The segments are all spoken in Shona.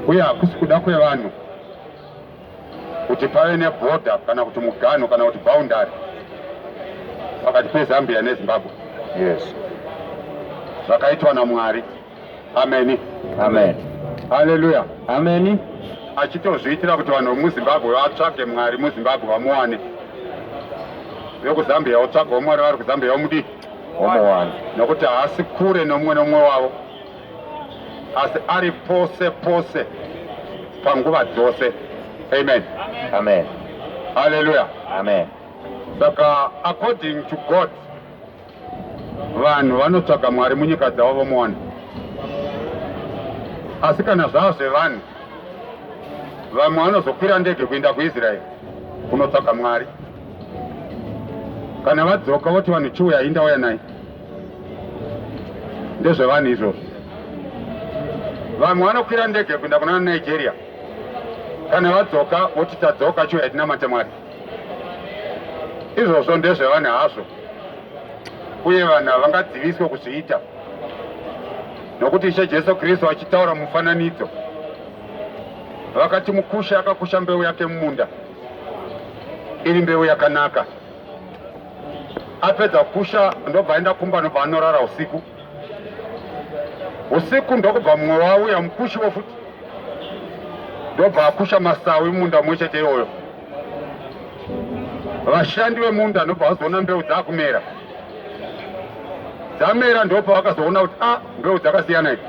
uye hakusi kuda kwevanhu kuti pave nebhodha kana kuti muganho kana kuti boundary pakati pezambia nezimbabwe yes zvakaitwa namwari ameni amen haleluya ameni achitozviitira kuti vanhu vemuzimbabwe vatsvage mwari muzimbabwe vamuwane vekuzambia votsvagawo mwari vari kuzambia vomudii vomuwana nokuti haasi kure nomumwe nomumwe wavo asi ari pose pose panguva dzose amen amen haleluya amen saka according to god vanhu vanotsvaga mwari munyika dzavo vomuwana asi kana zvava zvevanhu vamwe vanozokwira ndege kuenda kuisraeri kunotsvaga mwari kana vadzoka voti vanhu chiuya inda uya nai ndezvevanhu izvozvo vamwe vanokwira ndege kuenda kuna nigeria kana vadzoka voti tadzoka chiuya tinamate mwari izvozvo ndezvevanhu hazvo uye vanhu havangadziviswe kuzviita nokuti ishe jesu kristu achitaura mufananidzo vakati mukushi akakusha mbeu yake mumunda iri mbeu yakanaka apedza kusha ndobva aenda kumba nobva anorara usiku usiku ndokubva mumwe wauya mukushiwo futi ndobva akusha masawi munda mwe chete iyoyo vashandi vemunda ndobva vazoona mbeu dzakumera dzamera ndopa vakazoona kuti a ah, mbeu dzakasiyana idzi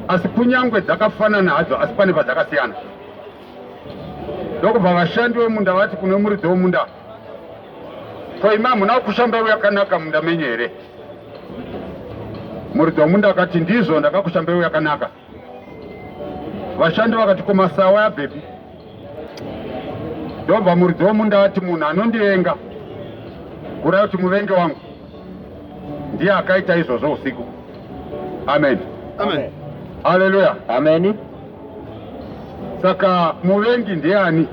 asi kunyangwe dzakafanana hadzo asi pane padzakasiyana ndokubva vashandi vemunda vati kune muridzi wemunda ko imi hamuna kushamba yakanaka munda menyu here muridzi wemunda akati ndizvo ndakakushamba yakanaka vashandi vakati ko masawa yabhepi ndobva muridzi wemunda ati munhu anondivenga kurai kuti muvengi wangu ndiye akaita izvozvo usiku amen, amen. haleluya ameni Saka muvengi ndiani?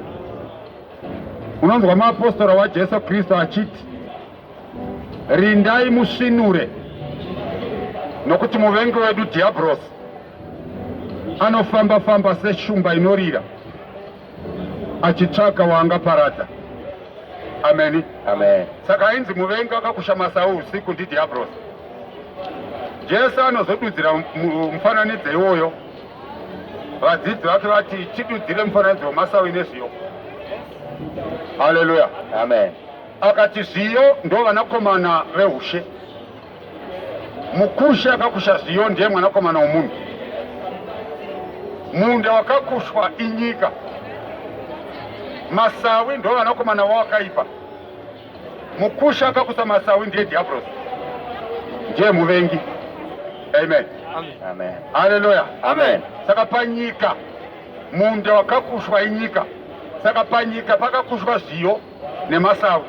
Unonzwa muapostora waJesu Kristu achiti, rindai musvinure, nokuti muvengi wedu Dhiabhurosi anofamba-famba seshumba inorira achitsvaga waangaparadza. Ameni, amen. Saka ainzi muvengi akakusha masawu usiku ndiDhiabhurosi. Jesu anozodudzira mufananidzo iwoyo. vadzidzi vake vati chidudzire mufananidzo wemasawi nezviyo haleluya amen akati zviyo ndo vanakomana veushe mukushi akakusha zviyo ndiye mwanakomana womunhu munda wakakushwa inyika masawi ndo vanakomana wawakaipa Mukusha akakusa masawi ndiye diablos, ndiye muvengi. Amen, amen, haleluya, amen. Saka panyika munda wakakushwa inyika, saka panyika pakakushwa zviyo nemasawi.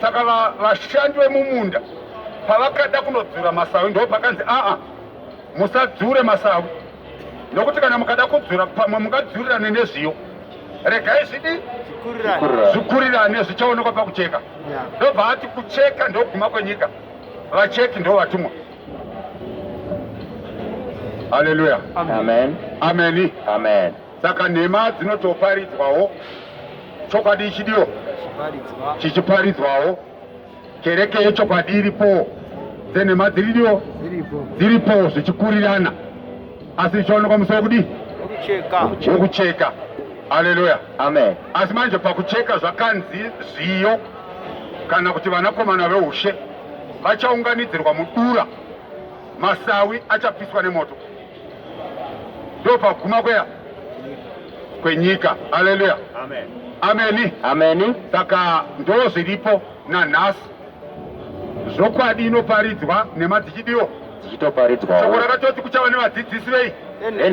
Saka vashandi vemumunda pavakada kunodzura masawi ndo pakanzi aa, musadzure masawi, nokuti kana mukada kudzura pamwe mungadzurira nezviyo regai zvidi zvikurirane zvichaonekwa pakucheka ndobva ati kucheka ndokuguma kwenyika vacheki ndo vatumwa haleluya ameni saka nhema dzinotoparidzwawo chokwadi chidio chichiparidzwawo Kereke yechokwadi iripo, dzenhema dziridio dziripo zvichikurirana, asi zvichaonekwa musi wekudii? Wekucheka. Haleluya, amen. Asi manje pakucheka zvakanzi zviyo kana kuti vanakomana veushe vachaunganidzirwa mudura, masawi achapiswa nemoto. ndopakuguma kweya kwenyika haleluya amen ameni ameni saka ndo zviripo nanhasi zvokwadi inoparidzwa nhema dzichidiwo dzichitoparidzwawo shoko rakatoti kuchava nevadzidzisi vei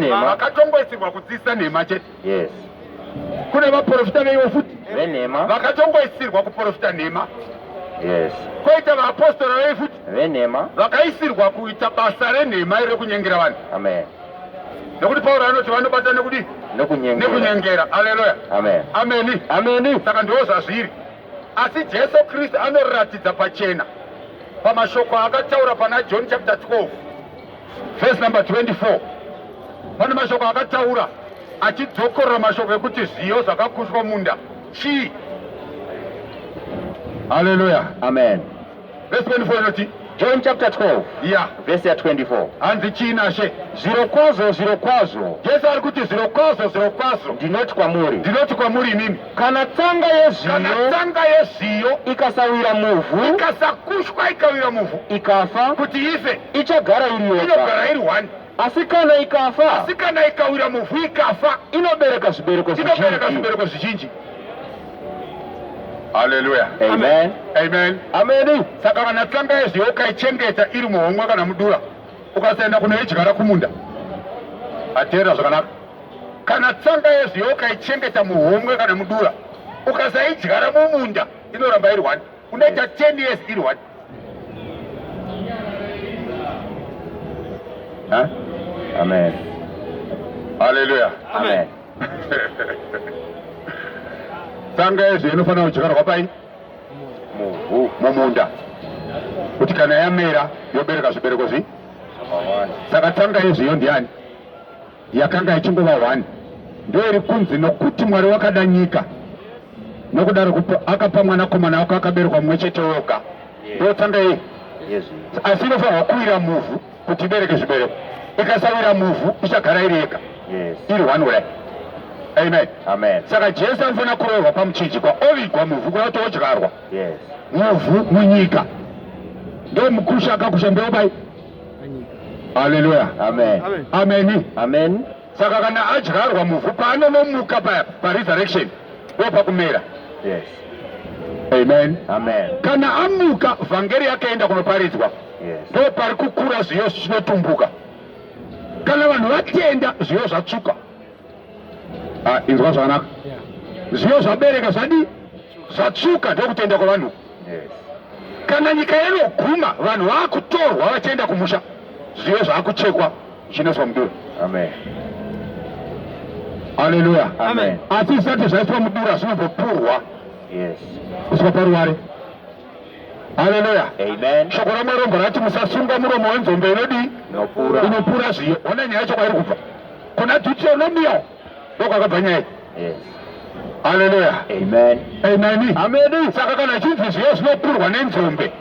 vakatongosirwa kudzidzisa nhema chete Yes. Kune vaprofita veivo futi venhema vakatongoisirwa kuprofita nhema. Yes. Koita vaapostora vei futi venhema vakaisirwa kuita basa renhema iri rekunyengera vanhu. Amen. Nekuti Pauro anoti vanobata nekudi nekunyengera. Nekunyengera. Haleluya. Amen. Ameni. Ameni. Saka ndiwo zvazviri. Asi Jesu Kristu anoratidza pachena pamashoko akataura pana John chapter 12 verse number 24 pane mashoko akataura achidzokorora mashoko ekuti zviyo zvakakushwa munda chii haleluya amen verse 24 inoti john chapter 12 ya verse ya 24 hanzi chii nashe zvirokwazvo zvirokwazvo jesu ari kuti zvirokwazvo zvirokwazvo ndinoti kwamuri ndinoti kwamuri inini Kana tsanga yezviyo, kana tsanga yezviyo ikasawira muvhu, ikasakushwa ikawira muvhu, ikafa, kuti ife, ichagara iri yoga, inogara iri one. Asi kana ikafa, asi kana ikawira muvhu ikafa, inobereka zvibereko zvizhinji, inobereka zvibereko zvizhinji. Haleluya. Amen. Amen. Amen. Saka kana tsanga yezviyo ukaichengeta iri muhomwe kana mudura Ukasaenda kunoidyara kumunda hateera zvakanaka. Kana tsanga yezviyo ukaichengeta muhomwe kana mudura, ukasaidyara mumunda inoramba iri one, unoita 10 years iri one. Huh? Amen. Hallelujah. Amen. Amen. Tsanga yezviyo inofanira kudyarwa pai? muvhu mumunda kuti kana yamera yobereka zvibereko zvi saka tsanga yezviyo ndiyani yakanga ichingova hwani ndiyo iri kunzi nokuti mwari wakada nyika nokudaro akapa mwana komana wako akaberekwa mumwe chete woga ndotsanga yei asi inofanirwa kuwira muvhu kuti ibereke zvibereko ikasawira muvhu ichagara iri yega iri one way amen amen saka jesu anofanira kurohwa pamuchinjikwa ovigwa muvhu kuda kuti odyarwa muvhu munyika ndo mukusha akakusha ndeobai haleluya amen amen amen saka kana adyarwa muvhu paanonomuka paya paresurrection ndopakumera yes amen amen kana amuka vhangeri yakaenda kunoparidzwa ndo pari kukura zviyo zvinotumbuka kana vanhu vatenda zviyo zvatsvuka ah, inzwa zvakanaka zviyo zvabereka zvadii zvatsvuka ndokutenda kwevanhu kana nyika inoguma vanhu vakutorwa vachienda kumusha zviyo zvaakuchekwa zvinoiswa mudura aleluya asi zvisati zvaiswa mudura zvinombopurwa kusvika paruware haleluya shoko ramwari rombo rati musasunga muromo wenzombe inodii inopura zviyo ona nyaya yacho kwairi kubva kuna deuteronomio ndokwakabva nyaya haleluya ameni saka kana chinzi zviyo zvinopurwa nenzombe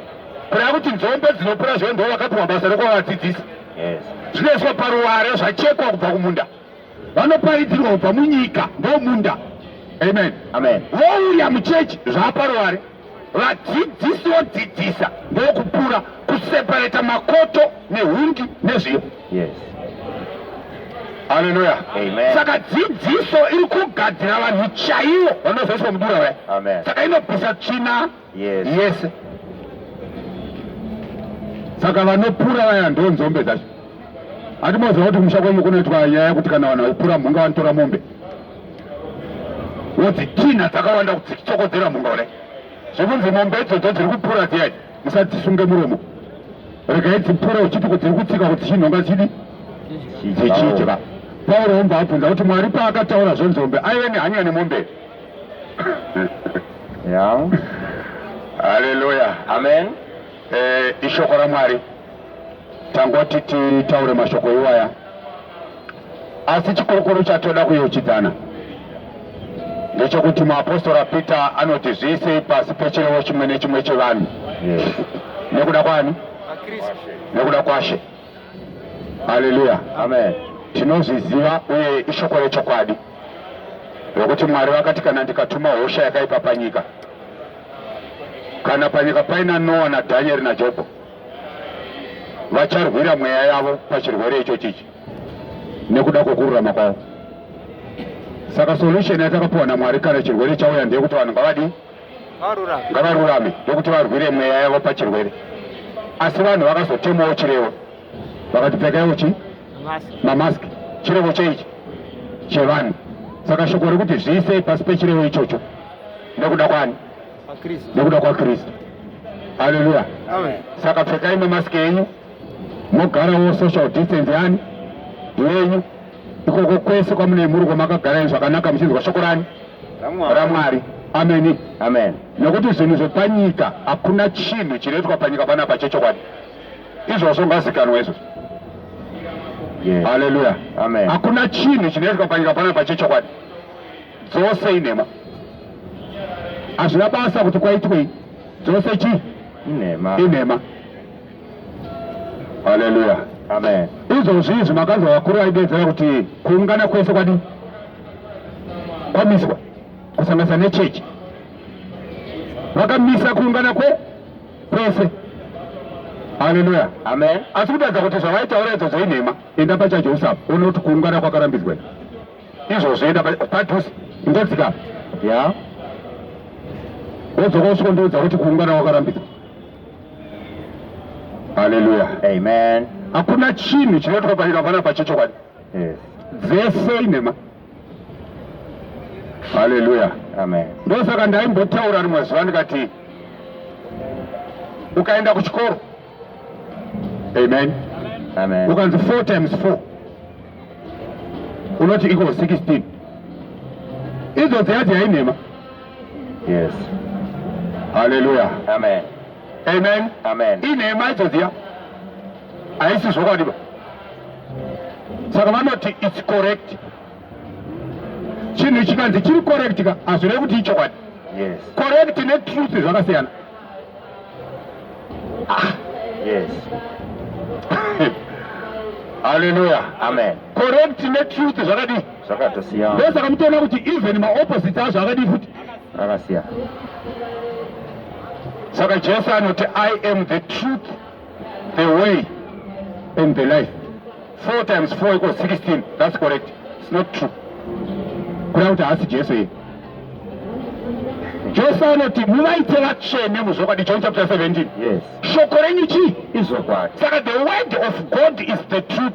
kureva kuti nzombe dzinopura zviyo ndo vakapihwa basa rekwawadzidzisi zvinoiswa paruware zvachekwa kubva kumunda vanoparidzirwa kubva munyika ndomunda amen amen wouya muchechi zvaaparuwari vadzidzisi vodzidzisa ndokupura kuseparata makoto nehungi nezviyo yes haleluya saka dzidziso iri kugadzira vanhu chaivo vanozoiswa mudura waya saka inobvisa tsvina yes, yes. saka vanopura vaya ndo nzombe dzacho hatimoziva kuti kumusha kwenyu kunoitwa nyaya yekuti kana vanhu vaipura mhunga vanotora mombe wodzitinha dzakawanda kudzichokodzera mhunga kudai zvekunzi mombe idzodzo dziri kupura dziyai musadzisunge muromo regai dzipure uchiti kudziri kutsika kuti chinhonga chidi dzichidya pauro omba abvunza kuti mwari paakataura zvenzombe aive nehanya nemombe yeah. haleluya amen eh, ishoko ramwari tangoti titaure mashoko iwaya asi chikurukuru chatoda kuyochidzana ndechekuti muapostora peter anoti zviisei pasi pechirevo chimwe nechimwe chevanhu nekuda kwani nekuda kwashe haleluya amen tinozviziva uye ishoko rechokwadi nokuti Mwari vakati kana ndikatuma hosha yakaipa panyika, kana panyika paina Noa naDhanieri naJobho, vacharwira mweya yavo pachirwere icho chichi nekuda kwekururama kwavo. Saka solution yatakapuwa naMwari kana chirwere chauya ndeyekuti vanhu ngavadi ngavarurame ndokuti varwire mweya yavo pachirwere, asi vanhu vakazotemawo chirevo vakati pfekaiwo chi mamask chirevo cheichi chevanhu saka shoko rekuti zviisei pasi pechirevo ichocho nekuda kwani nekuda kwakristu haleluya saka pfekai mamask enyu mogarawo social distance yani yenyu ikoko kwese kwamune mhuri kwamakagara ii zvakanaka muchinzwa shoko rani ramwari ameni amen nekuti zvinhu zvepanyika hakuna chinhu chinoitwa panyika panapa chechokwadi izvozvo ngazikanwa izvozvo haleluya amen hakuna chinhu chinoitwa panyika panapa chechokwadi dzose inhema hazvina basa kuti kwaitwei dzose chii inhema inhema haleluya amen izvozvi izvi makanzwa vakuru vaidedzera kuti kuungana kwese kwadi kwamiswa kusanganisa nechechi vakamisa kuungana kwe kwese haleluya amen asi kutaridza kuti zvavaitaura idzo zvainhema enda pachajosafa one kuti kuungana kwakarambidzwa izvozvo enda padhusi ingodzika ya wodzoka usviko ndiudza kuti kuungana kwakarambidzwa haleluya amen hakuna chinhu chinoitwa paina pana pachechokwadi dzese inhema Haleluya. Amen. Ndosaka ndaimbotaura rimwe zuva ndikati ukaenda kuchikoro amen amen ukanzi 4 times 4 unoti iko 16 idzo dziyadzi yainhema yes haleluya amen amen amen inhema idzo dziya haisi zvokwadiba saka vanoti its correct chinhu chikanzi chiri correct ka hazvirei kuti ichokwadi correct netruth zvakasiyana ah. yes haleluya amen correct netruth zvakadii zvakatosiyana ndosaka mutoona kuti even maopposite azvo akadii futi rakasiyana saka jesu anoti i am the truth the way and the life four times four equals 16 that's correct it's not true kuda kuti haasi jesu iye jesu anoti muvaite vatsvene muzvokwadi john chapter 17 yes. shoko renyu chii izvokwadi saka the word of god is the truth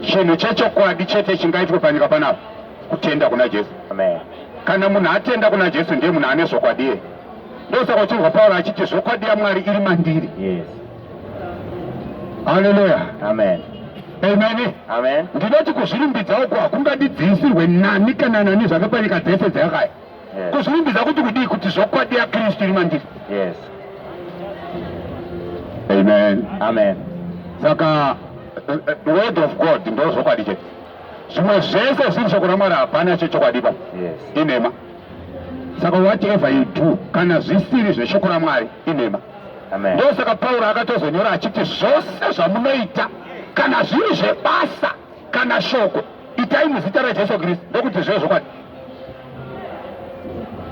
chinhu chechokwadi chete chingaitwe panyika panapa kutenda kuna jesu Amen. kana munhu atenda kuna jesu ndiye munhu ane zvokwadi iye ndosaka uchinzwa pauro achiti zvokwadi yamwari iri mandiri yes. haleluya amen amen amen ndinoti kuzvirumbidza uko hakungadidzisirwe nani kana nani zvake panyika dzese dzeyakaya yes. kuzvirumbidza kuti kudii kuti zvokwadi yakristu iri mandiri yes. amen amen saka eh, eh, word of god ndo zvokwadi chete zvimwe zvese zviri shoko ramwari hapana chechokwadiba yes. inhema saka whatever you do kana zvisiri zveshoko ramwari inhema ndosaka pauro akatozonyora achiti zvose zvamunoita kana zviri zvebasa kana shoko itai muzita rajesu kristu ndokuti zvive zvokwadi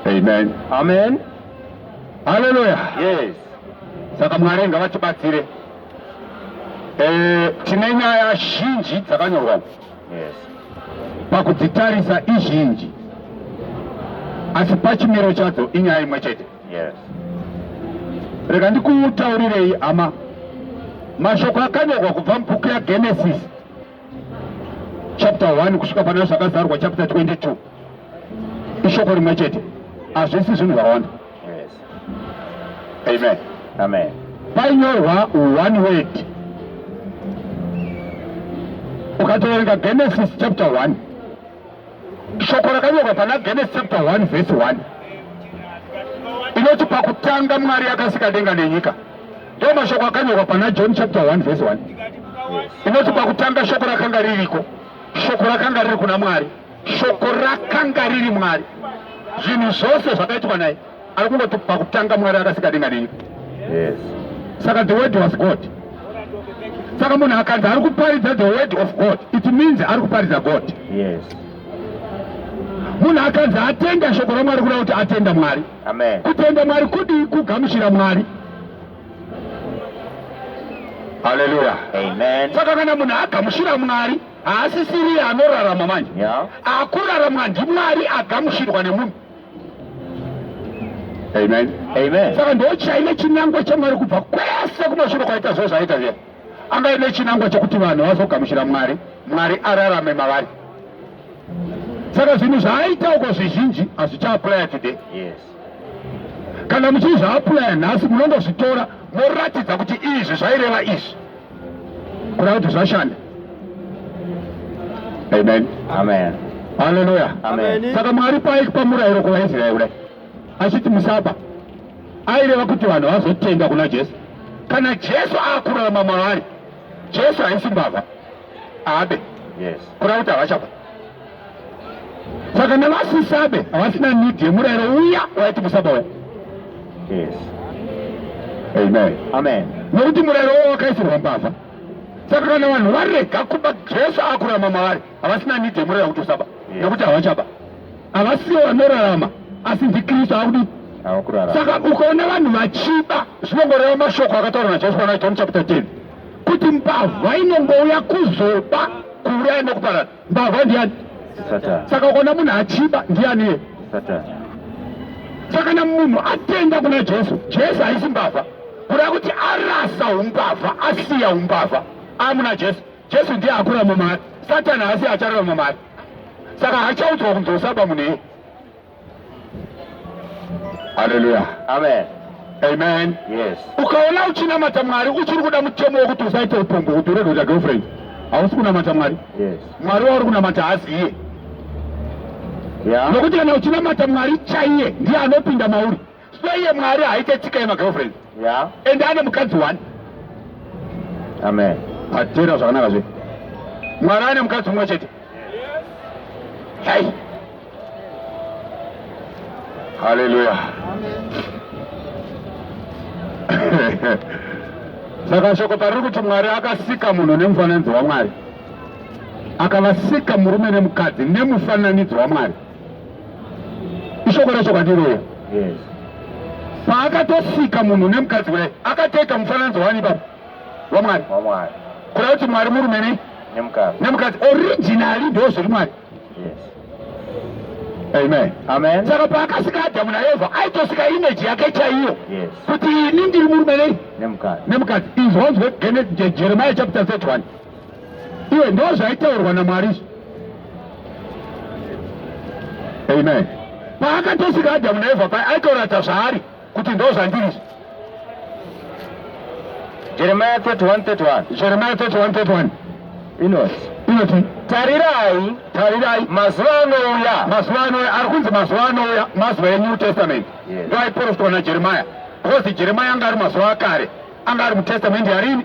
amen amen haleluya yes saka mwari ngavatibatsire eh, tine nyaya zhinji dzakanyorwa yes. pakudzitarisa izhinji asi pachimiro chadzo inyaya imwe chete yes. rega ndikutaurirei hama mashoko akanyorwa kubva mubhuku yagenesis chapter 1 kusvika pana zvakazarwa chapter 22 ishoko rimwe chete hazvisi zvinhu zvakawanda amen amen painyorwa one word ukatoverenga genesis chapter 1 shoko rakanyorwa pana genes chapter 1 vhesi 1 inoti pakutanga mwari akasika denga nenyika ndiwo mashoko akanyorwa pana john chapter 1 vhesi 1 inoti pakutanga shoko rakanga ririko shoko rakanga riri kuna mwari shoko rakanga riri mwari zvinhu zvose zvakaitwa naye ari kungoti pakutanga mwari akasika denga nenyu yes. saka the word was god saka munhu akanzi ari kuparidza the word of god it means ari kuparidza god yes. munhu akanzi atenda shoko ramwari kuda kuti atenda mwari kutenda mwari kudii kugamuchira mwari haleluya saka kana munhu agamuchira mwari haasisiriye anorarama manje yeah. akurarama ndimwari agamuchirwa nemunhu Amen. Amen. Saka ndochaine chinangwa chamwari kubva kwese kumashure kwaita zvo zvaita zviya anga ine chinangwa chekuti vanhu vazogamuchira mwari mwari ararame mavari saka zvinhu zvaaita uko zvizhinji hazvichaaplaya today yes. kana muchizviaplaya nhasi munongozvitora moratidza kuti izvi zvaireva izvi kuda kuti zvashanda amen amen haleluya amen saka mwari paiki pamurayiro kuvaisraeri kudai achiti musaba aireva kuti vanhu vazotenda kuna jesu kana jesu akurarama mavari jesu haisi mbavha abe yes. kuda kuti havachafa saka nevasisabe havasina need yemurayiro uya waiti musaba uya yes amen amen nokuti murayiro wo wakaisirwa mbavha saka kana vanhu varega kuba jesu akurama mavari havasina need yemurayiro kuti usaba nekuti havachaba havasiwo vanorarama asi ndikristu akudi saka ukaona vanhu vachiba zvinongoreva mashoko akataurwa najesu pana john chapter 10 kuti mbavha inongouya kuzoba kuuraya nekuparadza Mbavha ndiani? Satan. Saka ukaona munhu achiba ndiani iye? Satan. Saka kana munhu atenda kuna Jesu, Jesu haisi mbavha. Kuda kuti arasa umbavha, asiya umbavha, amuna Jesu. Jesu ndiye akura mumari. Satan haasi acharara mumari. Saka hachaudzwa kunzi usaba munhu iye. Haleluya. Amen. Amen. Yes. Ukaona uchinamata Mwari uchiri kuda mutemo wekuti usaite upombwe kuti urege kuita girlfriend. Hausi kunamata Mwari. Yes. Mwari wauri kunamata haasi iye. Yeah. Nokuti kana uchinamata Mwari chaiye ndiye anopinda mauri. Sure iye Mwari haite tsika yemagirlfriend. Yeah. And ane mukadzi one. Amen. Atera zvakanaka zve. Mwari ane mukadzi umwe chete. Yes. Hai. Hallelujah. Amen. Saka shoko pariri kuti Mwari akasika munhu nemufananidzo waMwari. Akavasika murume nemukadzi nemufananidzo waMwari. ishoko racho kwandiroya paakatosika munhu nemukadzi kudai akatoita mufananidzo wani baba wamwari kuda kuti mwari murume nei nemukadzi originali ndo zviri mwari amen amen saka paakasika adamu naevha aitosika imeji yake chaiyo kuti ini ndiri murume nei nemukadzi izvonzwe jeremiya chapter 31 iwe ndo zvaitaurwa namwari izvo amen paakatosika adhamu naevha paye aitoratidza zvaari kuti ndo zvandiri izvo jeremiya 3131 jeremiya 3131 inoti inoti tarirai tarirai mazuva anouya mazuva anouya ari kunzi mazuva anouya mazuva enew testament ndo aiprofitwa najeremiya because jeremiya anga ari mazuva akare anga ari mutestament yarini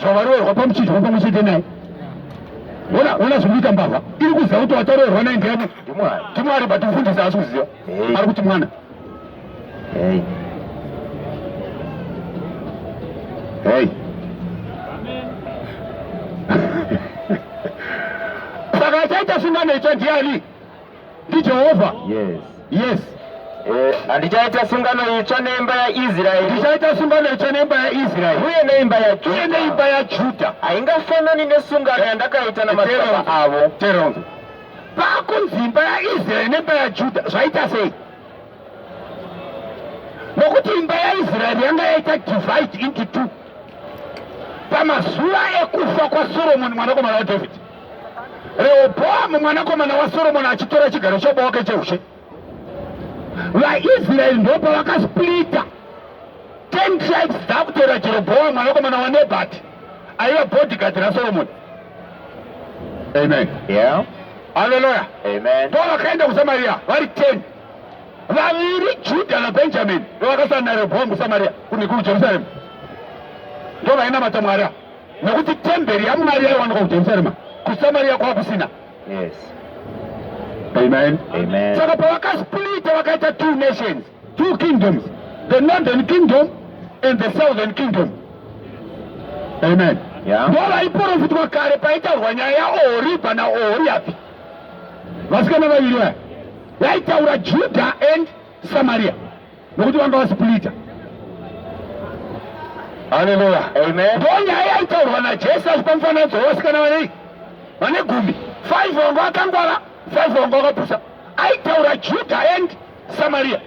zvavaroorwa pamuchinjwa pamwe chete naye ona ona zvinoita mbavha iri kuziva kuti wataroorwa naye ndiyani ndimwari but mfundisi haasi kuziva ari kuti mwana hey. saka achaita sungano itsva ndiani ndiJehovha. Yes. Yes. Eh, handichaita sungano itsva neimba yaisraeri ndichaita sungano itsva neimba yaisraeri uye neimba yajuda neimba yajuda haingafanani nesungano yandakaita namadzibaba avo teronzo pakunzi imba yaisraeri neimba yajuda zvaita sei nokuti imba yaisraeri yanga yaita divide into two pamazuva ekufa kwasoromoni mwanakomana wadhavhidhi Rehoboamu mwanakomana waSoromoni achitora chigaro choboka cheushe, vaIsraeri ndopa vakasplita 10 tribes dzakutora Jeroboamu mwanakomana waNebati aiva bodyguard raSoromoni. Amen. Yeah. Hallelujah. Amen. Paul akaenda kuSamaria vari 10. Vaviri Juda naBenjamin ndovakasana naRehoboamu kuSamaria kune kuJerusalem. Ndovayena matamwara. nokuti temberi yamwari yaiwanikwa kujerusalema kusamariya kwava kusina amen saka pavakasplita vakaita two nations two kingdoms the northern kingdom and the southern kingdom amen ndo vaiprofitwa kare paitaurwa nyaya yaohoribha naohoriabhi vasikana vaviri vaya yaitaura juda and Samaria nokuti vanga vasipulita Haleluya. Amen. Bonge haya itaurwa na Jesu achipamufananidzo wevasikana vanei vane gumi five wangu akangwara five wangu akapusa aitaura Juda and Samaria.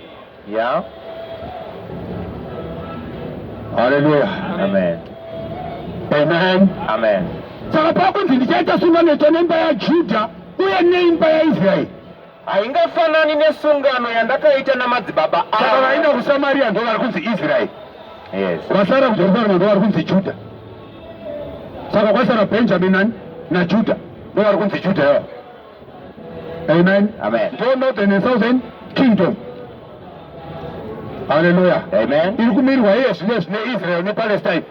Yeah. Haleluya. Amen. Amen. Amen. Saka pakunzi ndichaita sungano itsva nemba yaJuda uye neimba yaIsraeri haingafanani nesungano yandakaita namadzibaba avo. Vaenda kuSamaria ndo vari kunzi Israeri, yes. Vasara kuJerusarema ndo vari kunzi Juda. Saka kwasara Benjamin nani naJuda ndo vari kunzi Juda yavo. Amen. Amen. Ndo northern and southern kingdom. Haleluya. Amen. Iri kumirwa iye zvine zvine Israel nePalestine.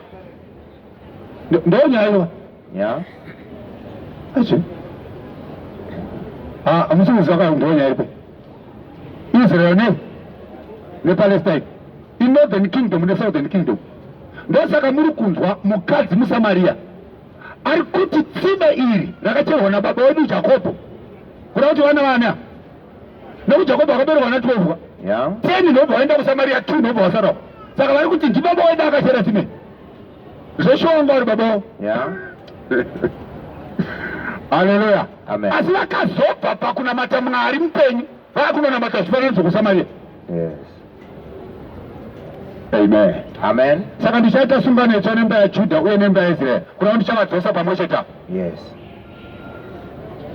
Ndo nyaya Yeah. Achi. Ah, amusimuzi akaongonya ipo. Israel ne ne Palestine. In northern kingdom ne southern kingdom. Ndosaka muri kunzwa mukadzi muSamaria ari kuti tsime iri rakacherwa nababa wedu Jakobo. Kuda kuti vana vana nekuti Jakobo akaberekwa na 12 yeah. 10 ndobva vaenda kuSamaria 2 ndobva vasarawo. Saka vari kuti ndibaba wedu akachera tsime. Zveshuwa wangu ari babawo. Yeah. Haleluya. Amen. Asi vakazobva pakunamata Mwari mupenyu vakunonamata zvifananidzo kuSamaria. Yes. Amen. Amen. Saka ndichaita sungano itsva nemba yaJudha uye nemba yaIsrael kuna ndichavadzosa pamwe chete apo. Yes.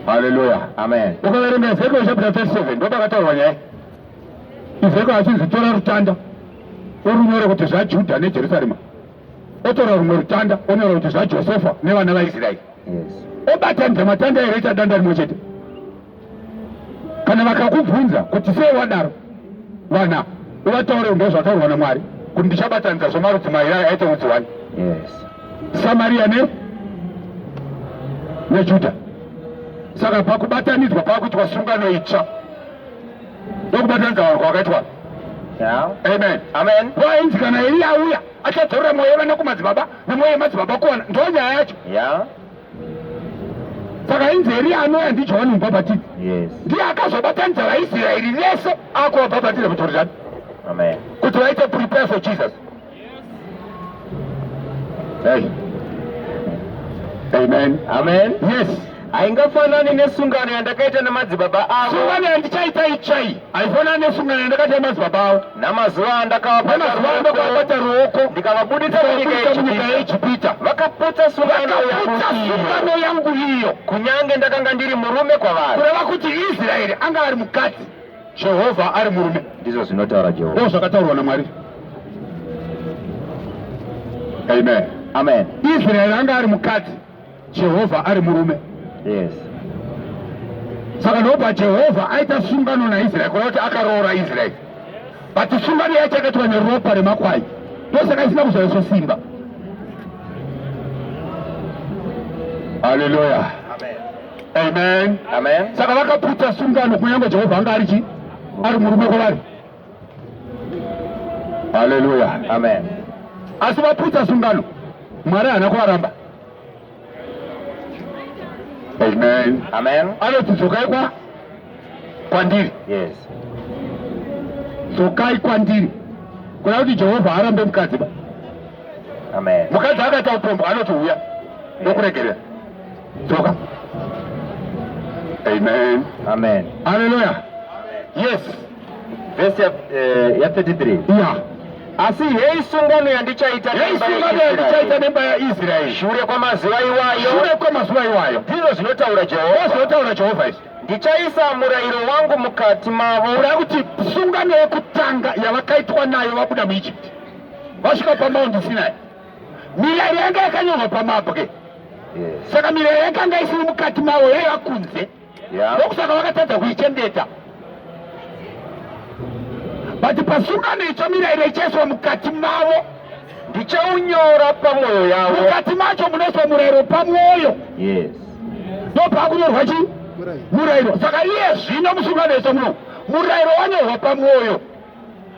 Haleluya. Amen. Ukaverenga Ezekiel chapter 37 ndopakataurwa nyaya. Ezekiel achinzi tora rutanda urunyore kuti zvaJudha neJerusalema otora rumwe rutanda onyora kuti zvajosefa nevana vaisraeri obatanidza matanda here ita danda rimwe chete kana vakakubvunza kuti sei wadaro vana uvataure unge zvataurwa namwari kuti ndichabatanidza zvemarudzi mairi ayo aite rudzi wani samariya ne nejuda saka pakubatanidzwa pakuitwa sungano itsva ndokubata nzawaro kwakaitwa amen amen wainzi kana eliya auya achadzorora mwoyo yevana kumadzibaba nemwoyo yemadzibaba kuwana ndo nyaya yacho saka inzi eliya anouya ndijohani mubhabhatidzi ndiye akazobatanidza vaisraeri vese akuvabhabhatidza kujorodhani kuti vaite prepare for jesus Hey. Amen. Amen. Yes. Haingafanani nesungano yandakaita nemadzibaba avo. Sungano yandichaita itsvai. Haifanani nesungano yandakaita nemadzibaba avo. Namazuva andakavapa namazuva andakavabata ruoko ndikavabudisa munyika yeEgipita. Vakaputsa sungano sungano yangu iyo. Kunyange ndakanga ndiri murume kwavari. Kureva kuti Israeri anga ari mukadzi. Jehovha ari murume, ndizvo zvinotaura Jehovha, ndizvo zvakataurwa naMwari. Amen, amen. Israeri anga ari mukadzi, Jehovha ari murume. Yes. Saka ndobva Jehovha aita sungano naIsraeri, kureva kuti akaroora Israeri, but sungano yacho yakaitwa neropa remakwai, ndosaka isina kuzoiswa simba. Hallelujah. Amen. Amen. Saka vakaputsa sungano kunyange Jehovha anga ari chi ari murume kwavari. Haleluya. Amen. Asi vaputsa sungano Mwari haana kuvaramba. Amen. Amen. Anoti dzokai kwa kwandiri. Yes. Dzokai kwandiri. Kuna kuti Jehovha arambe mukadzi ba. Amen. Mukadzi akati aupombwa anoti uya ndokuregerera. Dzoka. Amen. Amen. Hallelujah. Yes. Verse ya, eh, ya 33. Yeah. Asi heyi sungano yandichaita heyi sungano yandichaita nemba yaIsraeri shure kwamazuva iwayo shure kwamazuva iwayo ndizvo zvinotaura Jehovha zvinotaura Jehovha izvi ndichaisa murayiro wangu mukati mavo ura kuti sungano yekutanga yavakaitwa nayo vabuda muIjipti vasvika pamaundi Sinai mirayiro yanga yakanyorwa pamabwe saka mirayiro yakanga isiri mukati mavo yaiva kunze ndokusaka vakatadza kuichengeta but pasungano itsva mirayiro ichaiswa mukati mavo ndichaunyora pamwoyo yavo mukati macho munoiswa murayiro pamwoyo ndopaakunyorwa chii murayiro saka iye zvino musungano yese muno murayiro wanyorwa pamwoyo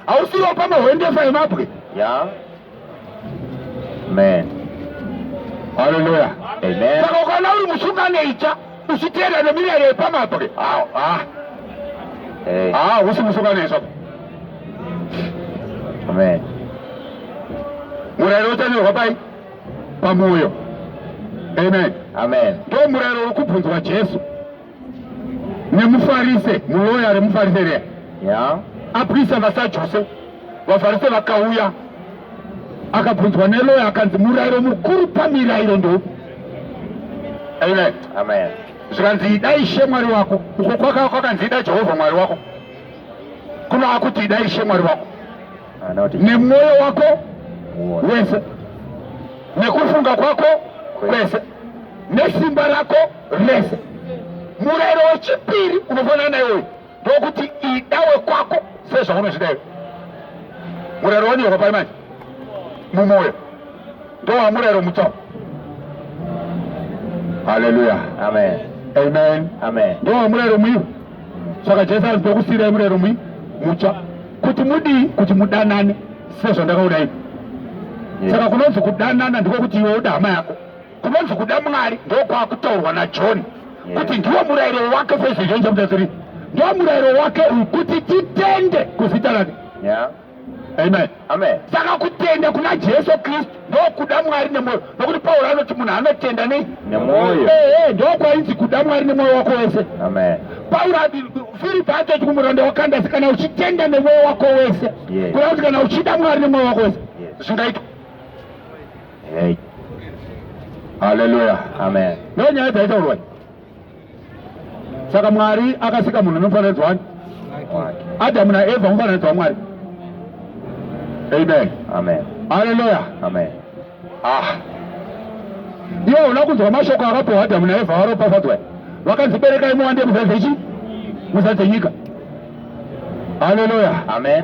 hausiwo pamahwendefa yemabwe yeah. Amen. Hallelujah. Amen. Saka ukaona uri musungano itsva uchiteera nemirayiro yepamabwe haa husi musungano itsva Amen. Murayiro uchanyorwa pai? Pamwoyo. Amen. Amen. Ndomurayiro uri kubvunzwa Jesu. nemufarise muloya remufarise reya yeah. aprisa vasajuse vafarise vakauya akabvunzwa neloya akanzi murayiro mukuru pamirayiro ndoupi amen amen zvikanzi ida ishe mwari wako uko kwaka kwakanzi ida jehovha mwari wako kuno akuti ida ishe mwari wako nemwoyo wako wese nekufunga kwako kwese nesimba rako rese. Murayiro wechipiri unofanana naiwoyo ndokuti ida wekwako sezvaunozvida iwe. Murayiro wanyorwa pai manje mumwoyo ndowa murayiro mutswa. Haleluya, amen, amen, amen. Ndowa murayiro mwiwo. Saka Jesu anzi ndokusiirai murayiro mwi mutsva. kuti mudii kuti mudanane sezvandakaudai saka kunonzi kudanana ndiko kuti iwe uda hama yako kunonzi kuda mwari ndokwakutaurwa najohn kuti ndiwo murayiro wake sezvizvonzamutaziri ndiwo murayiro wake uyu kuti titende kuzita rake amen saka kutenda kuna jesu kristu ndokuda mwari nemwoyo nokuti pauro anoti munhu anotenda nei nemwoyo ee ndokwainzi kuda mwari nemwoyo wako wese pauro firipi atoti kumuranda wakandasi kana uchitenda nemwoyo wako wese kureva kuti kana uchida mwari nemwoyo wako wese zvingaitwa haleluya ndonyaya dzaitaurwai saka mwari akasika munhu nemufananidzo wani adamu naevha mufananidzo wamwari amen amen haleluya amen ah iwe una kunzwa mashoko akapiwa adamu naevha varopafadzwa vakanzi berekai muwande muzadzechi muzadzenyika haleluya amen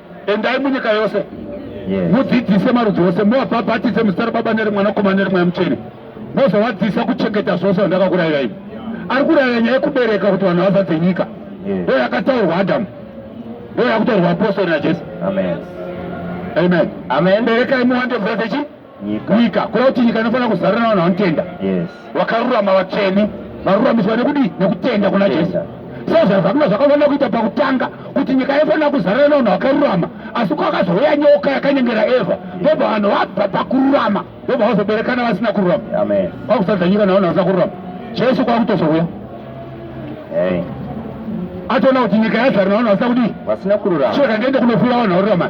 Endai munyika yose mudzidzise marudzi ose, muvabhabhatidze muzita raBaba nereMwanakomana nereMweya Mutsvene, mozovadzisa kuchengeta zvose zvandakakurayirai. Ari kurayira nyaya yekubereka kuti vanhu vazadze nyika, ndo yakataurwa Adhamu, ndo yakutorwa apostori naJesu. Amen, amen. Berekai muwande mvura dzechi nyika kureva kuti nyika inofanira kuzarira navanhu vanotenda vakarurama vatsvene varuramiswa nekudii nekutenda kuna jesu so zvazvakuno zvakafanira kuita pakutanga kuti nyika yaifanira kuzarira navanhu vakarurama asi kwakazouya nyoka yakanyengera eva ndobva vanhu vabva pakururama ndobva vazoberekana vasina kururama kwakusadza nyika navanhu vasina kururama jesu kwakutozouya atoona kuti nyika yazarira navanhu vasina kudii vasina kururama chioda ndiende kunofira vanhu varurama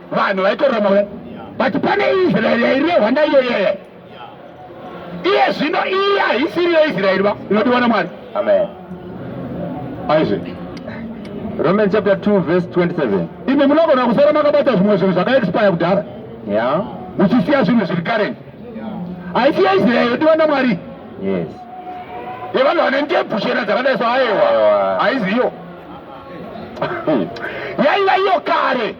vanhu vaitorwa mauya but pane israeri yairehwa ndaiyoyeye iye zvino iye haisiri yeisraeri va inodiwa namwari amen aizve romans chapter 2 verse 27 imi munogona kusara makabata zvimwe zvinhu zvakaexpire kudhara ya muchisiya zvinhu zviri karen haisi yeisraeri yodiwa namwari yes yevanhu vane ndebvu chena dzakadai so aewa haiziyo yaiva iyo kare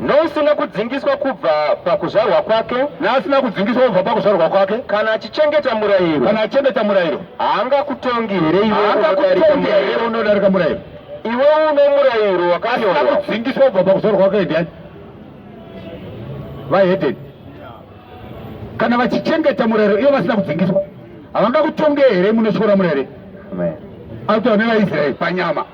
Neusina kudzingiswa kubva pakuzvarwa kwake, neasina kudzingiswa kubva pakuzvarwa kwake, kana achichengeta murayiro, kana achichengeta murayiro, haangakutongi here iwe unodarika here unodarika murayiro? Iwe une murayiro wakanyorwa. Asina kudzingiswa kubva pakuzvarwa kwake ndiani? Vahedeni. Kana vachichengeta murayiro ivo vasina kudzingiswa, havangakutonge here munotyora murayiro? Amen. Autaura nevaIsraeri panyama.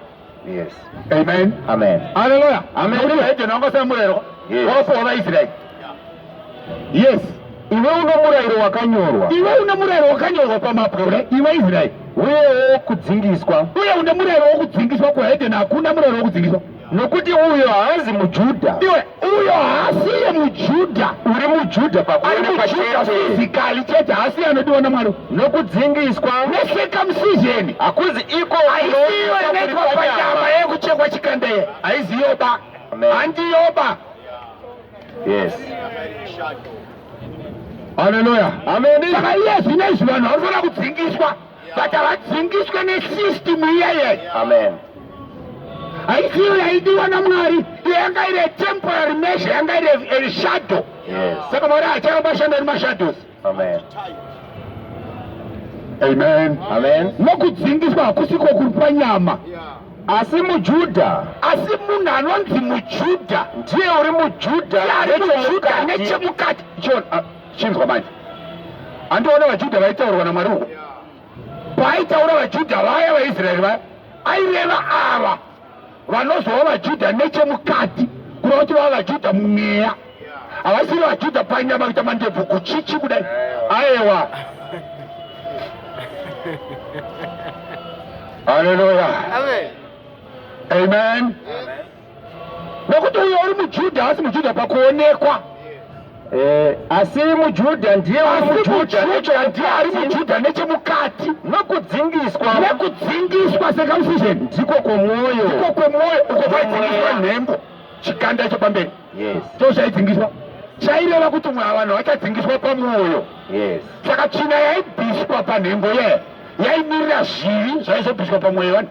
Yes. Amen. Amen. Hallelujah. Amen. Uri hedeni wanga usina murayiro wakapuwa vaIsraeri. Yes. Iwe une murayiro wakanyorwa. Iwe une murayiro wakanyorwa pamabwe ure iwe Israeri. Uyewo kudzingiswa. Uye une murayiro wokudzingiswa kuhedeni hakuna murayiro wokudzingiswa. Nokuti uyo haazi muJudha. Iwe uyo haasiye mujudha uri mujudha pakuonekwaezikali chete haasiye anodiwa namwari nokudzingiswa nesekamsizheni hakuzi iko aisiyo inoitwa panyama yekuchekwa chikandeye haiziyoba handiyoba yes haleluya ameni saka iye zvino izvi vanhu vanofanira kudzingiswa but havadzingiswe nesystem iyeye amen haisiyo yaidiwa namwari iyo yanga iri temporary measure yanga iri erishadow saka mwari acharamba ashanda nemashadows amen amen amen nokudzingiswa hakusi kwokuri panyama asi mujudha asi munhu anonzi mujudha ndiye uri mujudha nechemukati Chinzwa manje. Andiona vaJudha vaitaurwa naMwari uko. Paaitaura vaJudha vaya vaIsraeri vaya aireva ava vanozova vaJudha nechemukati kuda kuti vava vaJudha mumweya. Havasiri vaJudha panyama kuita mandebvu kuchichi kudai. Aewa. Hallelujah. Amen. Amen. Amen. nokuti uyo uri mujudha haasi mujudha pakuonekwa Eh, asi mujudha ndiye uri asi mujudha mujudha ndiye nechemukati, ari mujudha nechemukati nokudzingiswa nekudzingiswa circumcision ndiko kwomwoyo uko kwemwoyo uko kwaidzingiswa nhengo chikanda chepamberi yes so chaidzingiswa chaireva kuti mwa vanhu vachadzingiswa pamwoyo yes saka tsvina yaibviswa panhengo ye yaimirira zvivi zvaizobviswa pamwoyo yevanhu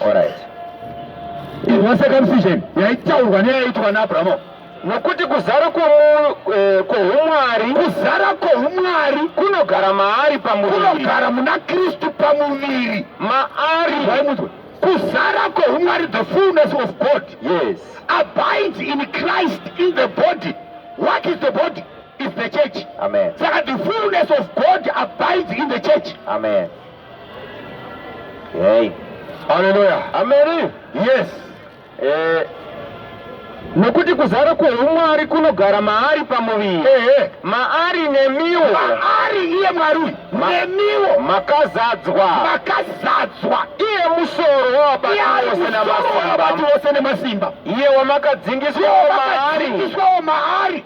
Alright. Inzwa circumcision yaitaurwa neyaitwa naAbrahamu nokuti kuzara eh, kwoumwari kuzara kwoumwari kunogara maari pamuviri kunogara muna kristu pamuviri maari vaimudzwa kuzara kwoumwari the fullness of god yes abides in christ in the body what is the body is the church amen saka the fullness of god abides in the church amen Hey. Hallelujah. Amen. Yes. Eh, nokuti kuzara kweumwari kunogara maari pamuviri ehe maari nemiwo maari iye mwari uyu nemiwo makazadzwa makazadzwa iye musoro wavabati vose nemasimba iye wamakadzingiswawo maari maari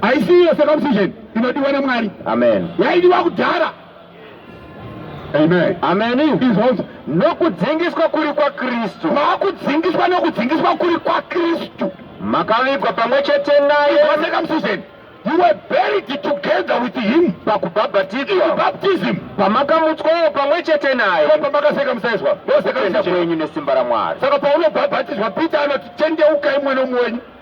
haisi iyo circumcision inodiwa namwari amen yaidiwa kudhara amen amen izvozvo nokudzingiswa kuri kwakristu makudzingiswa nokudzingiswa kuri kwakristu makavigwa pamwe chete naye circumcision you were buried together with him pakubhabhatidzwa baptism pamakamutswawo pamwe chete naye pamakasekamusaizwa vose kwenyu nesimba ramwari saka paunobhabhatidzwa peter anoti tendeukai mwana umwe wenyu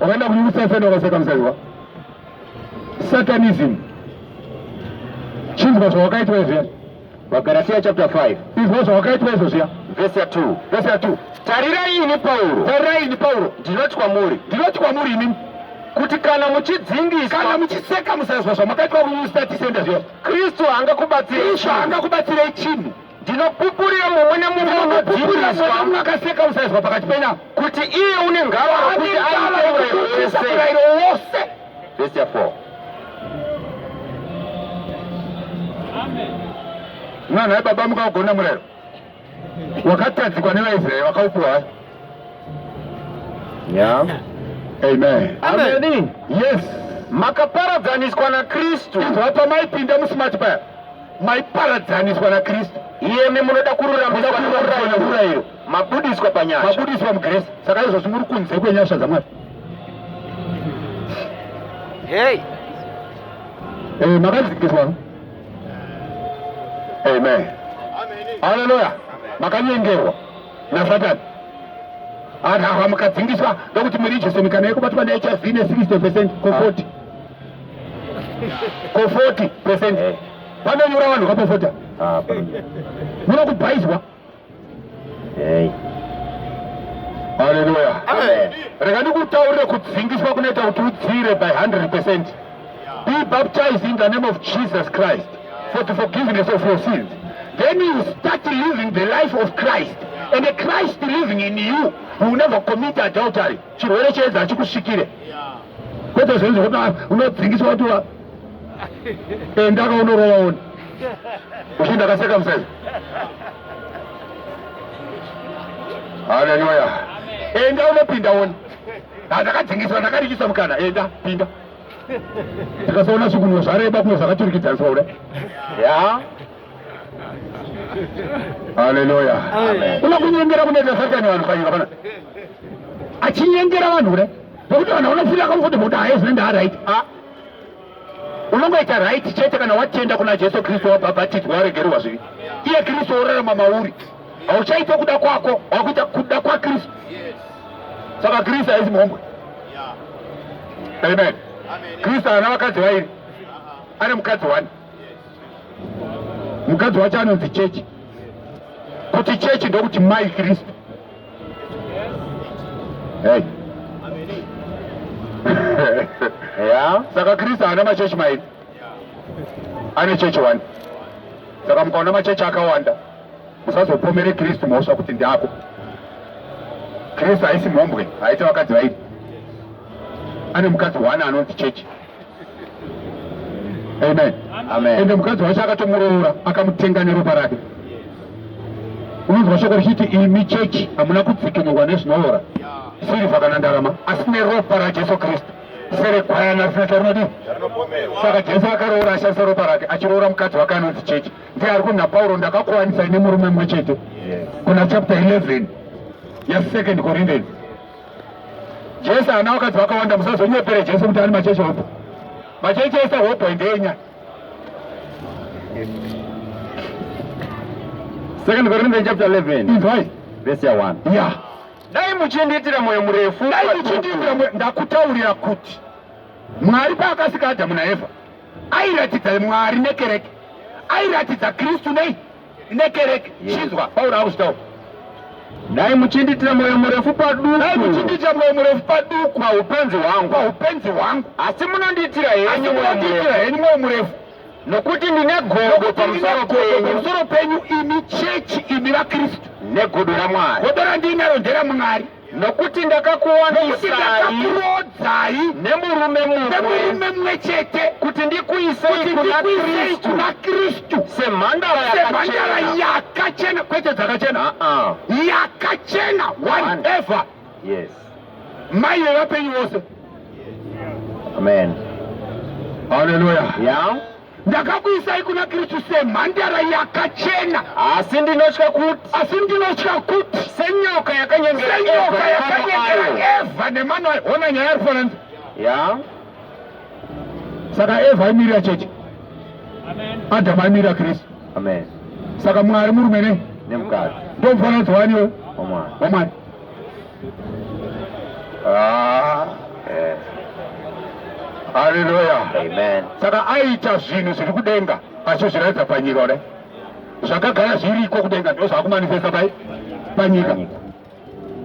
wakaenda kune usasani wakasakamusaiwa satanism chinzwa zvawakaitwa izviya vagaratiya chapter 5 izwa zvawakaitwa izvo zviya vhesi ya 2 vhesi ya 2 tarirai ini pauro tarirai ini pauro ndinoti kwamuri ndinoti kwamuri ini kuti kana muchidzingisa kana muchiseka musazwa zvamakaitwa kuustatisenda zviya kristu haangakubatsirei kristu haangakubatsirei chinhu ndinopupurira mumwe nemumwe unodziviswa akaseka usaizwa pakati pena kuti iye une ngava kuti aite uraiwo wose vesi ya 4 mwana webaba mukaugona murero wakatadzikwa nevaisraeri vakaupiwa yeah. amen amen, amen. yes makaparadzaniswa nakristu izwa pamaipinda musimati paya maiparadzaniswa naKristu iyemi munoda kururamiswa neurayiro mabudiswa panyasha mabudiswa mugrace saka izvozvi muri kunze kwenyasha dzaMwari hey eh makadzikiswa amen haleluya makanyengerwa nasatani anhu awa mukadzingiswa ndokuti muri jesu mikana yekubatwa nehiv ne 60 percent ko 40 ko 40 percent eh. vanonyura vanhu kapofota ah, muno kubhaizwa haleluya rega ndikutaurire kudzingiswa kunoita kuti udzire by 100 percent be baptized in the name of jesus christ for the forgiveness of your sins then you start living the life of christ and christ living in you will never commit adultery chirwere cheedzi hachikusvikire kwete zvinhu zvekuti ah, unodzingiswa kuti enda ka unorova one uchi ndakaseka musaizi haleluya enda unopinda one ndakadzingiswa ndakarikisa mukana enda pinda tikasaona zvikunwe zvareba kumwe zvakaturikidzaniswa kuda ya Haleluya. Kuna kunyengera kunoita satani vanhu panyika pana. Achinyengera vanhu kudai. Nokuti vanhu vanofunga kuti kuti haye zvinenge aright. Ah. Unongoita right chete kana watenda kuna Jesu Kristu wabhabhatidzwa waregerwa zvivi. Iye Kristu orarama mauri. Hauchaita kuda kwako, wakuita kuda kwa Kristu. Saka Kristu haisi mhombwe. Amen. Kristu ana vakadzi vairi. Ane mukadzi wani. mukadzi wacho anonzi chechi kuti chechi ndokuti mai kristu hey. yeah. saka kristu haana machechi mairi ane chechi one saka mukaona machechi akawanda musazopomere kristu mhosva kuti ndiako kristu haisi mhombwe haita vakadzi vairi ane mukadzi one anonzi chechi amen ende mukadzi wacho akatomuroora akamutenga neropa rake unonzwa shoko richiti imi chechi hamuna kudzikinurwa nezvinoora sirivha kana ndarama asi neropa rajesu kristu serekwayana zina charinodii saka jesu akaroora ashandisa ropa rake achiroora mukadzi wake anonzi chechi ndiye ari kunha pauro ndakakuwanisa ine murume mumwe chete kuna chapter 11 yasecond corinthians Jesu ana wakati wakawanda musazonyepere Jesu kuti ani macheche hopo. Macheche ese hopo endenya. Second Corinthians chapter 11. Inzwai. Verse ya 1. Yeah. Dai muchindiitira moyo murefu. Dai muchindiitira moyo ndakutaurira kuti Mwari paakasika Adamu naEva airatidza Mwari nekereke. Airatidza Kristu nei? nekereke chinzwa pauro akusitawo dai muchindiitira mwoyo murefu paduku dai muchindiitira mwoyo murefu paduku paupenzi hwangu paupenzi hwangu asi munondiitira henyu munondiitira henyu mwoyo murefu nokuti ndine godo pamusoro penyu pamusoro penyu imi chechi imi vakristu negodo ramwari godo randinaro nderamwari nokuti ndakakurodzai nemurume mumwe chete kuti ndikuisei kuna kristu semhandara yakachena kwete dzakachena ah, ah. yakachena one ever yes mai yevapenyu vose amen haleluya yeah. ndakakuisai kuna kristu semhandara yakachena asi ndinotya kuti asi ndinotya kuti senyoka yakanyengera eva nemano ayo ona nyaya ari fananzi ya saka eva aimirira chechi adamu aimirira kristu saka mwari murume ne nemukadzi ndomufananidzo waniwo wamwari Ah, eh. Haleluya. Amen. Saka aita zvinhu zviri kudenga achizviratidza panyika ne zvakagara zviriko kudenga ndizvo zvakumanifesta pai panyika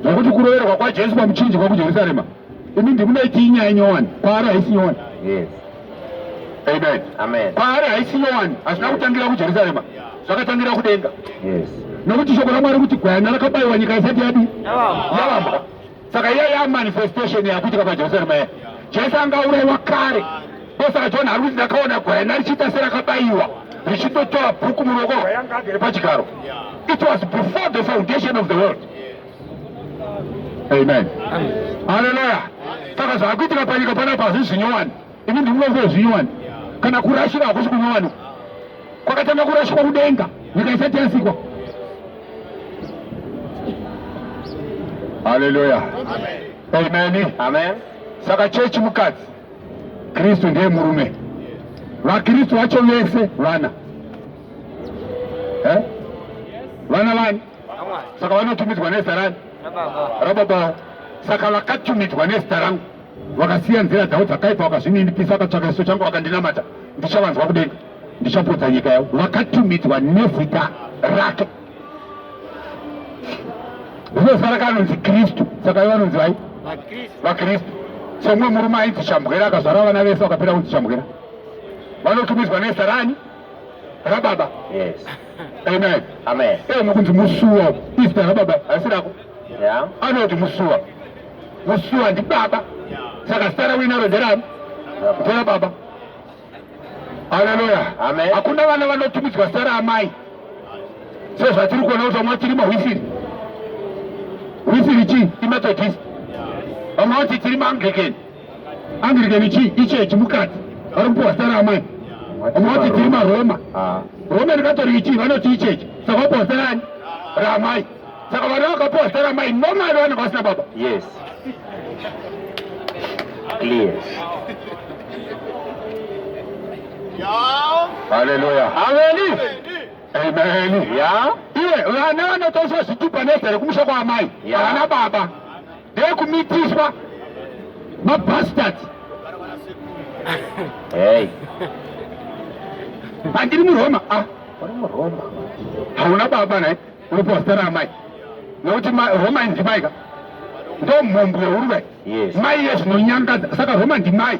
zvokuti kuroverwa kwajesu pamuchinjikwa kujerusarema imi ndimunaiti inyaya nyowani kwaari haisi nyowani yes. Amen. Amen. Paari haisi yowani hazvina kutangira kujerusarema zvakatangira kudenga yes. nokuti shoko ramwari kuti gwayana rakabayiwa nyika isati yadi yavamba saka iya yamanifestation yakuitika pajerusarema ya jesu anga aurayiwa kare ndosaka john ari kuti ndakaona gwayana richiita serakabayiwa richitotora bhuku muruoko rwayanga agere pachigaro it was before the foundation of the world Amen. Haleluya. Saka zvakuitika panyika panapa hazvisi nyowani. Ini ndinonzwa zvinyowani. Kana kurashika hakusi kunyowani. Kwakatanga kurashikwa kudenga, nyika isati yasikwa. Haleluya. Amen. Amen. Saka chechi mukadzi Kristu ndiye murume. VaKristu vacho vese vana. Eh? Vana vani? saka vanotumidzwa nezita rani rababa saka vakatumidzwa nezita rangu vakasiya nzira dzavo dzakaipa vakazvininipisa vakatsvaka chiso changu vakandinamata ndichavanzwa kudenga ndichapodza nyika yavo vakatumidzwa nezita rake zvinosara kanonzi kristu saka ivo vanonzi vai vakristu somumwe murume ainzi chambwera akazvara vana vese vakapera kunzi chambwera vanotumidzwa nezita rani rababa yes amen amen ee nokunzi musuwa izita rababa asi rako yeah anoti musuwa musuwa ndibaba saka zita rawinaro nderani nderababa haleluya amen hakuna vana vanotumidzwa zita raamai sezvatiri kuona kuti vamwe vachirima hwisiri hwisiri chii imethodist vamwe vati tiri maanglikeni andirikeni chii ichechi mukadzi vari kupiwa sara amai omoti tiri maroma ah. roma ndikatori chii vanoti ichechi saka vapiwa sara ani ramai saka vana vakapiwa sara amai nomai vanenge vasina baba yes clear haleluya ameni ameni ya iwe vana vanotoswa zvitupa nezere kumusha kwaamai havana baba ndeyekumitiswa mabastards hey pandiri muroma ah uri muroma hauna baba naye uri postera amai nokuti roma indimaika ndo mhombo yehuruve mai yezvinonyangadza saka roma ndimai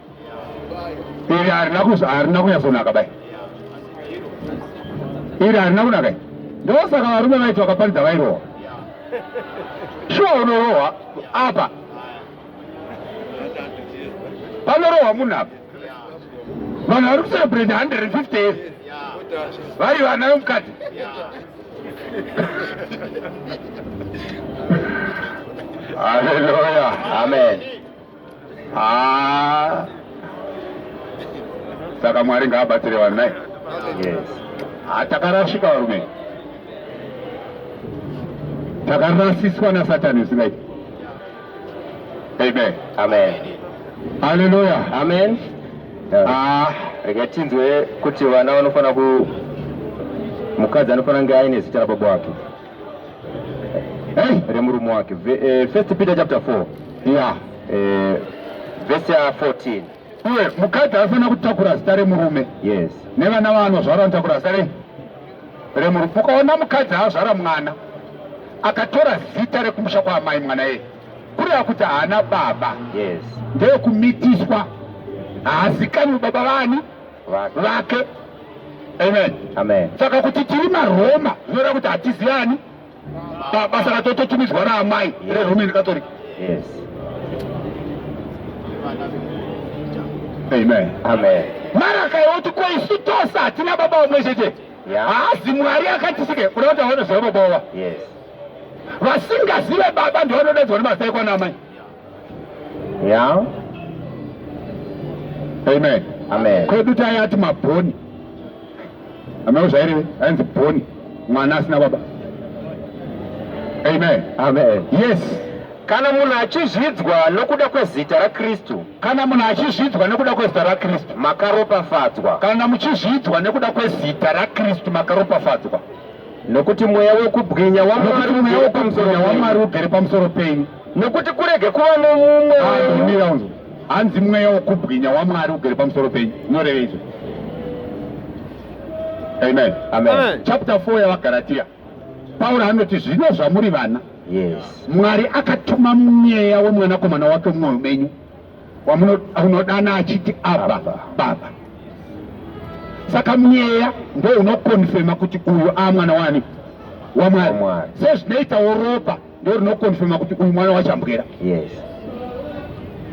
iri harina kunyatsonaka bai iri harina kunaka ndosaka varume vaiti vakaparidza vairohwa shuwa unorohwa apa panorohwa munhu apa vanhu vari kucelebrate 150 years vari vana vemukadzi haleluya amen Ah. Saka Mwari ngaabatsire vanhu naye. Yes. Ah, takarashika varume. Takarasiswa na Satan usingaiti. Amen. Amen. Hallelujah. Amen. Ah, rega tinzwe kuti vana vanofanira ku mukadzi anofanira kunge aine zita rababa wake. hey, eh, remurume wake eh, first peter chapter 4 yeah. eh, vese ya 14 uye mukadzi anofanira kutakura zita remurume yes nevana vaanozvara anotakura zita rei remurume ukaona mukadzi azvara mwana akatora zita rekumusha kwaamai mwana yeye kureva kuti haana baba yes ndeyekumitiswa haazikanwi baba vani vake amen amen saka kuti tiri maroma zvinoreva kuti hatiziyani baba saka tototumidzwa raamai reroman catholic yes amen amen mara akaoti ko isu tose hatina baba vamwe chete haazi mwari akatisike kuda kuti aone zvavanobova vasingazive baba ndivanodaidzwa nemazai kwana amai Yeah. Amen. Amen. Kwedu tayati mabhoni. Ameno zvaireve ainzi bhoni mwana asina baba. Amen. Amen. Yes. Kana munhu achizvidzwa nokuda kwezita raKristu. Kana munhu achizvidzwa nokuda kwezita raKristu. Makaropafadzwa. Kana muchizvidzwa nokuda kwezita raKristu makaropafadzwa. Nokuti mweya wekubwinya waMwari ugere pamusoro penyu. nekuti kurege kuva nomumwe wenyu hanzi mweya wokubwinya wamwari ugere pamusoro penyu unoreva izvo amen amen chapter 4 yavagaratiya pauro anoti zvino zvamuri vana mwari akatuma mweya wemwanakomana wake mumwoyo menyu wamunodana achiti abba baba saka mweya ndo unokonfema kuti uyu aamwana wani wamwari sezvinoitawo ropa ndo rinokonfirma kuti uyu mwana wachambwera yes.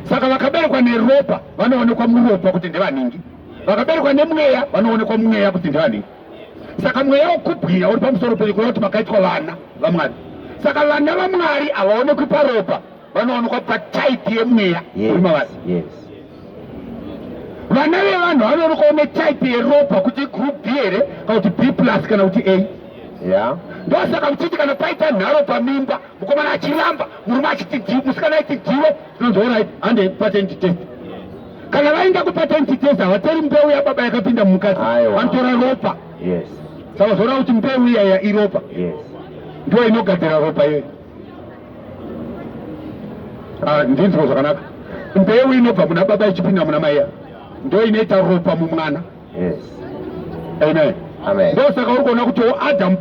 Saka vakaberekwa neropa vanoonekwa muropa kuti ndevaningi, vakaberekwa nemweya vanoonekwa mweya kuti ndevaningi. Saka mweya wokubwinya uri pamusoro penyu kureva kuti makaitwa vana vaMwari. Saka vana vaMwari havaonekwi paropa, vanoonekwa patype yemweya uri mavari. vana vevanhu vanonokawo netype yeropa kuti group b here kana kuti b plus kana kuti a ya ndosaka muchiti kana paita nharo pamimba mukomana achiramba murume achiti d musikana aiti diwe tinonzi orit hande patenti test kana vaenda kupatenti test havatori mbeu yababa yakapinda mumukadzi vanotora ropa saka zvoda kuti mbeu iyaya iropa ndiyo inogadzira ropa iyoyo Ah, ndinzwa zvakanaka mbeu inobva muna baba ichipinda muna maiya ndo inoita ropa mumwana amen ndosaka uri kuona kuti adamu